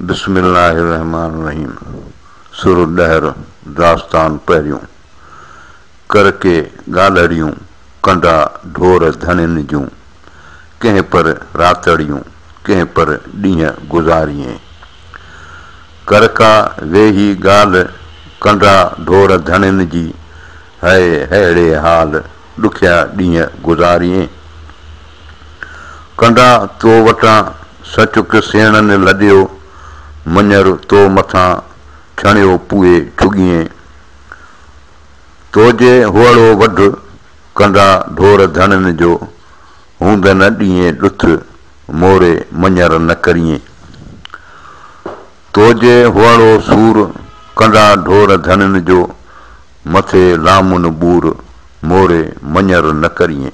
بسم الله الرحمٰن الرحيم سر ڏهر داستان پهريون ڪر ڪي ڳالهڙيون ڪنڊا ڍور ڌڻين جون ڪنهن پر راتڙيون ڪنهن پر ڏينهن گذاريين ڪر ڪا ويهي ڳالهه ڪنڊا ڍور ڌڻين جي هئي ههڙي حال ڏکيا ڏينهن گذاريين. ڪنڊا تو وٽان سچڪ سيڻن لڏيو، مڃر تو مٿان ڇڻيو پوئي ڇڳيئين. توجي هئڙو وڍ، ڪنڊا ڍور ڌڻين جو، هوند نه ڏيئين ڏٿ، موري مڃر نه ڪريئين. توجي هئڙو سور، ڪنڊا ڍور ڌڻين جو، مٿي لامن ٻور، موري مڃر نه ڪريئين.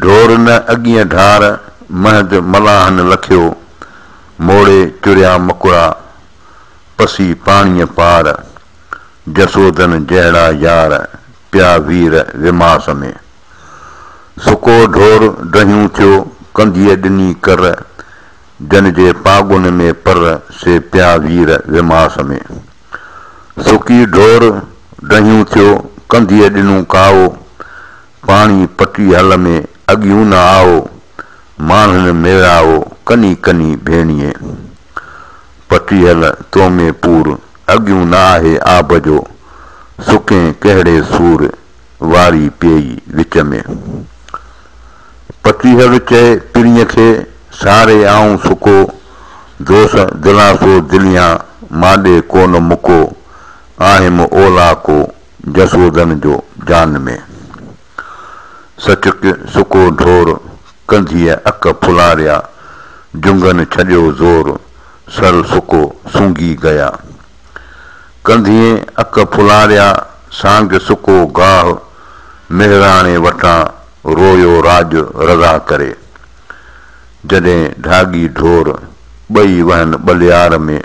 ڍور نه اڳينء ڍار، مهد ملاحن لکيو، موڙي چريا مڪڙا، پسي پاڻيء پار، جسودن جهڙا يار، پيا وير وماس ۾. سڪو ڍور ڊهيون ٿيو، ڪنڌيء ڏني ڪر، جن جي پاڳن ۾ پر، سي پيا وير وماس ۾. سڪي ڍور ڊهيون ٿيو، ڪنڌيء ڏنون ڪائو، پاڻي پٽي هل ۾ اڳيون نه آئو، ماڻهن ميڙائو ڪني ڪني ڀيڻيء. پٽي هل تو ۾ پور، اڳيون نه آهي آب جو، سڪين ڪهڙي سور، واري پيئي وچ ۾. پٽي هل چئي پرينء کي، ساري آئون سڪو، دوس دلاسو دليان، مانڏي ڪو نه مڪو، آهيم اولاڪو، جسوڌن جو جان ۾، سچڪ سڪو ڍور، ڪنڌيء اک ڦلاريا، جنگهن ڇڏيو زور، سر سڪو سونگهي گيا. ڪنڌيء اک ڦلاريا، سانگ سڪو گاهه، مهراڻي وٽان رويو راڄ رضا ڪري. جڏهن ڍاڳي ڍور، ٻئي وهن ٻليار ۾،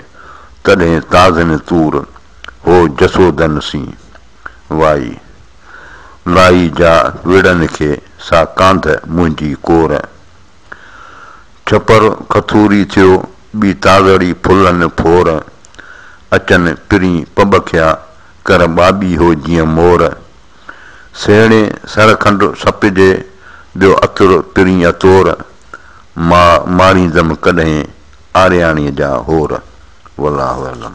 تڏهن تازن طور، هو جسودن سين وائي، لائي جا وڙن کي سا ڪانڌ منهنجي ڪور. ڇپر کٿوري ٿيو ٻي تازڙي ڦلن ڦور، اچن پرين پٻکيا ڪر ٻاٻي هو جيئن مور. سهڻي سر کنڊ سپجي ٻيو عطر پرين عطور، ماء ماريندم ڪڏهن. آرياڻيء جا هور والله اعلم.